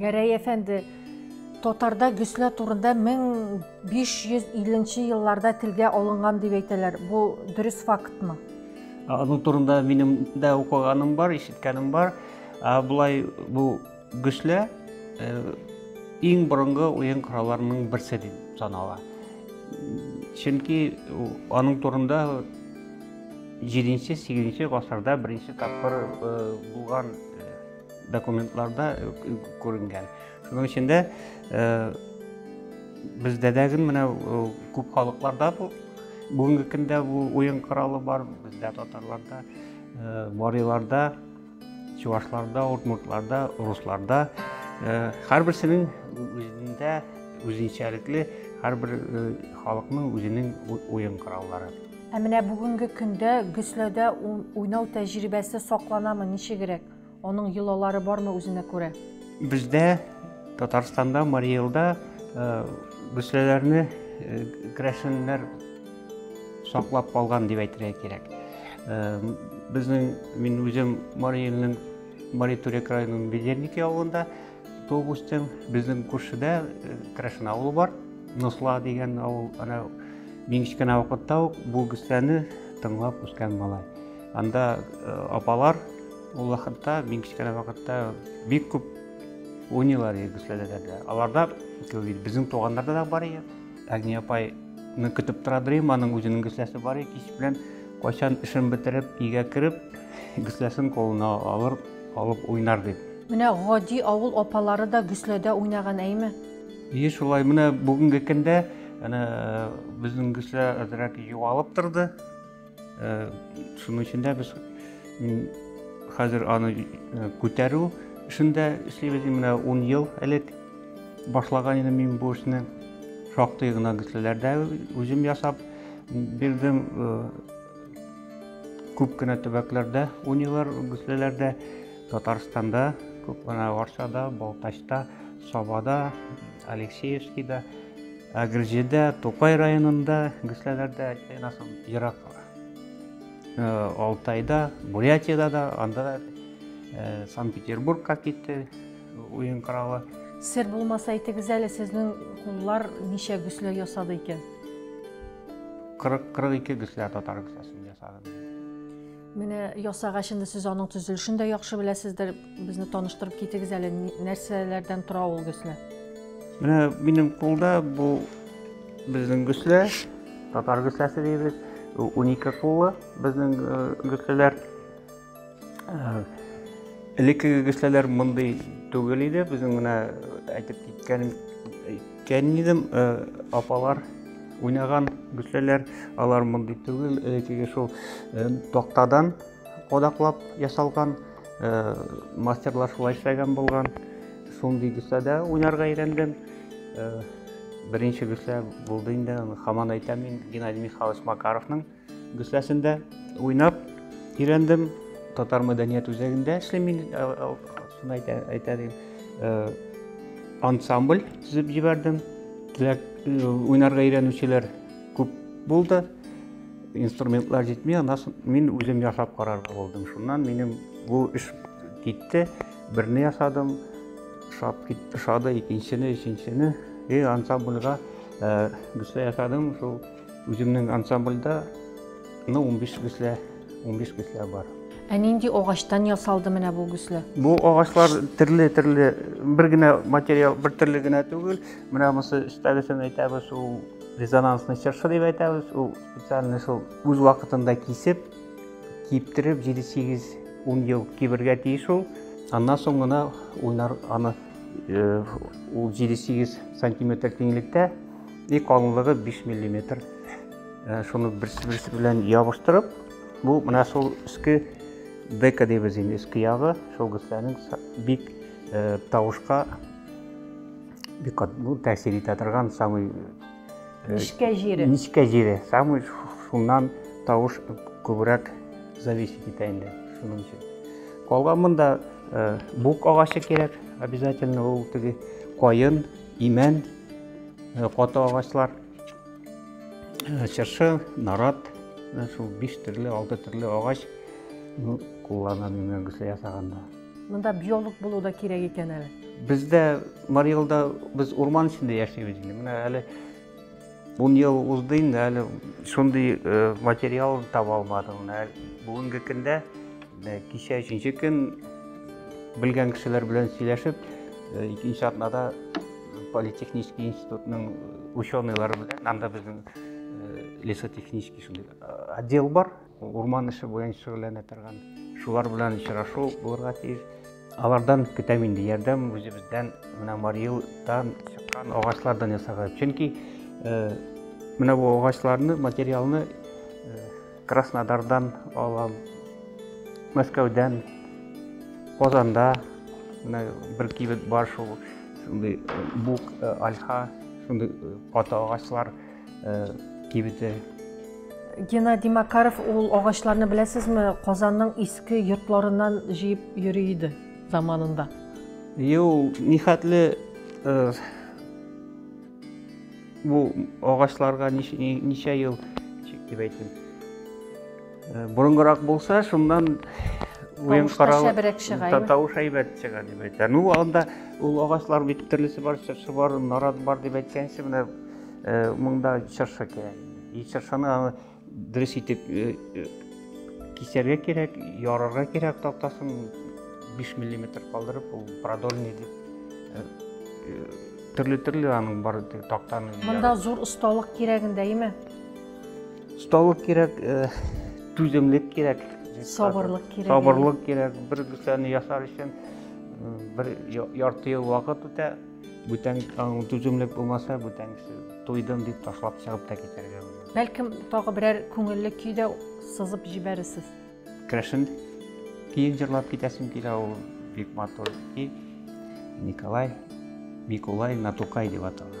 Гәрәй әфәнде, татарда гөслә турында 1550 елларда телгә алынган дип әйтәләр. Бу дөрес фактмы? Аның турында минем дә укыганым бар, ишеткәнем бар. Ә болай бу гөслә э, иң борынгы уен коралларының берсе дип санала. Чөнки аның турында 7-8 гасырда беренче тапкыр э, булган э, документларда күренгән. Шуның өчен дә бездә дә менә күп халыкларда бу бүгенге көндә бу уен коралы бар, бездә татарларда, мариларда, чувашларда, удмуртларда, русларда һәрберсенең үзендә үзенчәлекле һәрбер халыкның үзенең уен кораллары. Ә менә бүгенге көндә Гөсләдә уйнау тәҗрибәсе сакланамы, ничегрәк? Аның йолалары бармы үзенә күрә? Бездә Татарстанда, Марий Элда гөсләләрне керәшеннәр саклап калган дип әйтергә кирәк. Безнең мин үзем Марий Элнең Марий Төрек районының Бедерники авылында туып үстем. Безнең күршедә керәшен авылы бар. Носла дигән авыл, ана мин кечкенә вакытта ук бу гөсләне тыңлап үскән малай. Анда э, апалар ул вакытта, мин кечкенә вакытта бик күп уйныйлар иде күсләләрдә. Аларда безнең туганнарда да бар иде. Әгни апайны көтеп тора дөрим, аның үзенең гөсләсе бар иде. Кич белән кайчан эшен бетереп, өйгә кереп, гөсләсен кулына алыр, алып уйнар дип. Менә гади авыл апалары да гөсләдә уйнаган әйме? Ие, шулай. Менә бүгенге көндә әнә безнең гөслә әзрәк югалып торды. Шуның өчен дә без хәзер аны күтәрү эшендә эшлибез. Менә 10 ел элек башлаган идем мин бу эшне. Шактый гына гөслеләрдә үзем ясап бирдем. Күп кенә төбәкләрдә, унилар гөслеләрдә, Татарстанда, күп кенә Арчада, Балтачта, Сабада, Алексеевскийда Әгерҗедә, Тукай районында, Гөсләләрдә, Айнасым, ерак Алтайда, Бурятияда да, анда да Санкт-Петербургка китте уен коралы. Сер булмаса әйтегез әле, сезнең куллар ничә гөслә ясады икән? 40-42 гөслә татар гөсләсен ясадым. Менә ясагач инде сез аның төзелешен дә яхшы беләсездер. Безне таныштырып китегез әле, нәрсәләрдән тора ул гөслә? Менә минем кулда бу безнең гөслә, татар гөсләсе дибез. Унике куллы безнең э, гөсләләр. Э, элеккеге гөсләләр мондый түгел иде. Безнең менә әйтеп киткәнем э, Кәнидем апалар уйнаган гөсләләр, алар мондый түгел, теге шул тактадан кадаклап ясалган, мастерлар шулай эшләгән булган. Шундый гөсләдә уйнарга өйрәндем. Беренче гөслә булды инде, хаман әйтәм мин, Геннадий Михайлович Макаровның Гөсләсендә уйнап өйрәндем. Татар мәдәният үзәгендә эшлим мин, шуны әйтә дим. Ансамбль төзеп җибәрдем. Теләк уйнарга өйрәнүчеләр күп булды. Инструментлар җитми, аннан мин үзем ясап карарга булдым. Шуннан минем бу эш китте. Берне ясадым, шап китте, шады, икенчене, өченчене. И ансамбльга гөслә ясадым, шул Үземнең ансамбльдә, ну, 15 гөслә, 15 гөслә бар. Ә нинди агачтан ясалды менә бу гөслә? Бу агачлар төрле-төрле, бер генә материал, бер төрле генә түгел. Менә монысы өстәгесен әйтәбез, ул резонансный чыршы дип әйтәбез. Ул специальный шул үз вакытында кисеп, киптереп, 7-8 10 ел кибергә тиеш ул. Аннан соң гына уйнар аны ул 7-8 сантиметр киңлектә И калынлыгы 5 миллиметр. Э, шуны берсе-берсе белән ябыштырып, бу менә шул өске дека дибез инде, өске ягы, шул гөсләнең бик э, тавышка бик ну, тәэсир итә торган самый э, нечкә җире. Нечкә җире, самый шуннан тавыш күбрәк зависит итә инде шуның өчен. Калган монда бук агачы кирәк, обязательно ул теге каен Имән, э, каты агачлар, э, чыршы, нарат, э, шул биш төрле, алты төрле агач ну, куллана димәк гөсле ясаганда. Монда биолог булу да кирәк икән әле. Бездә Марий Элда без урман эчендә яшибез инде. Менә әле Ун ел узды инде, әле шундый материал таба алмадым. Бүгенге көндә, кичә өченче көн белгән кешеләр белән сөйләшеп, икенче атнада политехнический институтның ученыйлары белән, анда безнең лесотехнический шундый отдел бар, урман эше буенча шөгыльләнә торган. Шулар белән очрашу булырга тиеш. Алардан көтәм инде ярдәм үзебездән менә Мариудан чыккан агачлардан ясарга. Чөнки менә бу агачларны, материалны Краснодардан алам, Мәскәүдән, Казанда менә бер кибет бар шул, шундый бук, альха, шундый каты агачлар. э, кибете. Геннадий Макаров ул агачларны беләсезме, Казанның иске йортларыннан җыеп йөри иде заманында. Ю, нихәтле э, бу агачларга ничә ел дип әйтим. Э, Борынгырак булса, шуннан уен карау тавыш әйбәт чыга дип әйтә. Ну, анда ул агачлар бит төрлесе бар, чыршы бар, нарат бар дип әйткәнче, менә Э, монда чыршы кирәк. И чыршыны аны дөрес итеп э, э, кисәргә кирәк, ярырга кирәк тактасын 5 мм калдырып, ул продольный дип төрле-төрле аның бар тактаны. Монда зур осталык кирәген дәйме? Осталык кирәк, түземлек кирәк. Сабырлык кирәк. Сабырлык кирәк. Бер кесәне ясар өчен бер ярты ел вакыт үтә. Бүтән таң түземлек булмаса, бүтән кеше туйдым дип ташлап чыгып та китәргә була. Бәлкем тагы берәр күңелле көй дә сызып җибәрерсез. Керәшен көен җырлап китәсем килә, ул бик матур көй. Николай, Микулай, Натукай дип атала.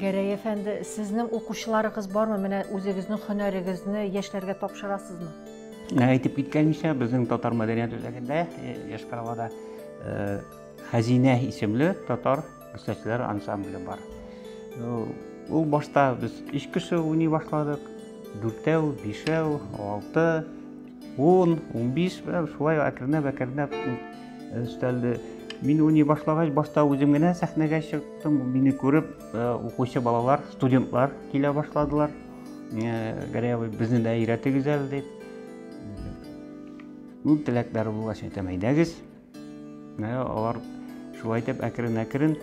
Гәрәй әфәнде, сезнең укучыларыгыз бармы? Менә үзегезнең һөнәрегезне яшьләргә тапшырасызмы? Ә, әйтеп киткәнчә, безнең татар мәдәният үзәгендә, э, Яшь Каравада, э, Хәзинә исемле татар Үсәчләр ансамбле бар. Ул башта без өч кеше уйный башладык. Дүртәү, бишәү, алты, ун, унбиш, шулай әкренләп, әкренләп өстәлде. Мин уйный башлагач, башта үзем генә сәхнәгә чыктым. Мине күреп, укучы балалар, студентлар килә башладылар. Гәрәй абый, безне дә өйрәтегез әле дип. Ул теләкләре булгач, әйтәм, әйдәгез. Алар шулай итеп әкрен-әкрен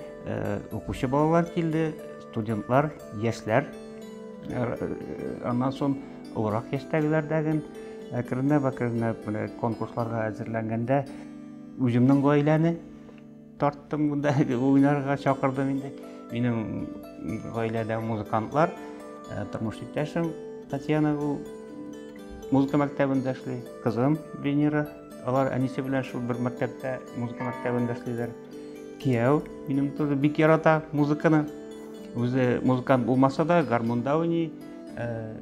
укучы балалар килде, студентлар, яшьләр. Аннан соң олырак яшьтәгеләр дәген әкренләп-әкренләп менә конкурсларга әзерләнгәндә үземнең гаиләне тарттым монда уйнарга чакырдым инде. Минем гаиләдә музыкантлар, тормыш иптәшем Татьяна ул музыка мәктәбендә эшли, кызым Венера Алар әнисе белән шул бер мәктәптә, музыка мәктәбендә эшлиләр. Кияү минем тоже бик ярата музыканы. Үзе музыкант булмаса да, гармунда уйный, э,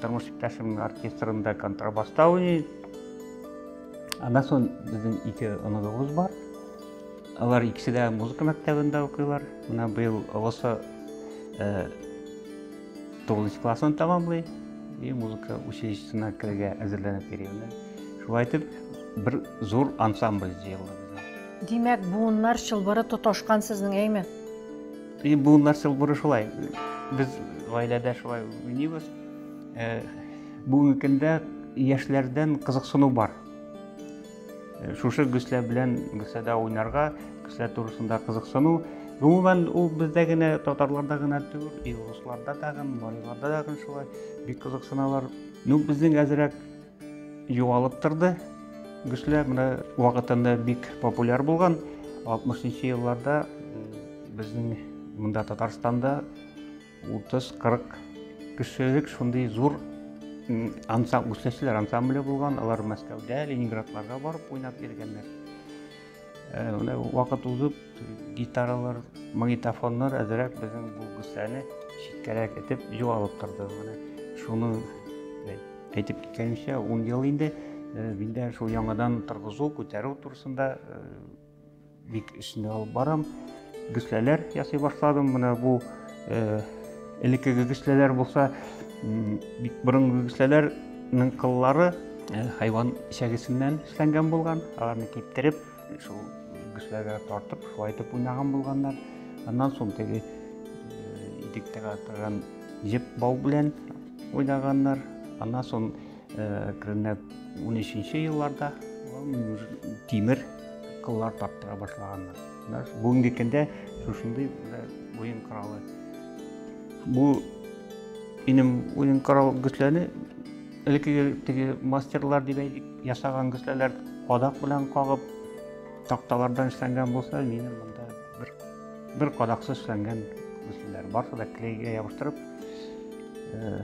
тормыш иптәшемнең оркестрында контрабаста уйный. Аннан соң безнең ике оныгыбыз бар. Алар икесе дә музыка мәктәбендә укыйлар. Менә быел олысы э, Тугызынчы классын тәмамлый, и музыка училищесына керергә әзерләнеп йөрүне. Шулай итеп, бер зур ансамбль җыелды бездә. Димәк, буыннар чылбыры тоташкан сезнең, әйме? И буыннар чылбыры шулай. Без гаиләдә шулай уйныйбыз. Бүгенге көндә яшьләрдән кызыксыну бар. Шушы гөслә белән гөсләдә уйнарга, гөслә турысында кызыксыну, гомумән ул бездә генә, татарларда гына түгел, и русларда тагын, мариларда тагын шулай бик кызыксыналар. Ну, безнең әзрәк югалып торды. Гөслә менә вакытында бик популяр булган. 60 елларда безнең монда Татарстанда 30-40 кешелек шундый зур ансам, үсәчләр ансамбле булган, алар Мәскәүдә, Ленинградларга барып уйнап йөргәннәр. Э, менә вакыт узып, гитаралар, магнитофоннар әзрәк безнең бу гүсәне читкәрәк итеп югалып торды. Менә шуны э, әйтеп киткәнчә, 10 ел инде э, миндә шул яңадан торгызу, күтәрү турысында Бик эшне алып барам. Гөсләләр ясый башладым. Менә бу э, элекке гөсләләр булса, бик борынгы гөсләләрнең кыллары э, хайван чәгесеннән эшләнгән булган. Аларны киптереп, шул гөсләргә тартып, шулай итеп уйнаган булганнар. Аннан соң теге э, идектәгә торган җеп бау белән уйнаганнар. Аннан соң Керенә 13-нче елларда тимер кыллар таптыра башлаганнар. Бүгенге көндә шушындый уен коралы. Бу минем уен корал гөсләне элеккеге теге мастерлар дип әйтик, ясаган гөсләләр кадак белән кагып такталардан эшләнгән булса, минем монда бер бер кадаксыз эшләнгән гөсләләр. Барсы да клейга ябыштырып, э,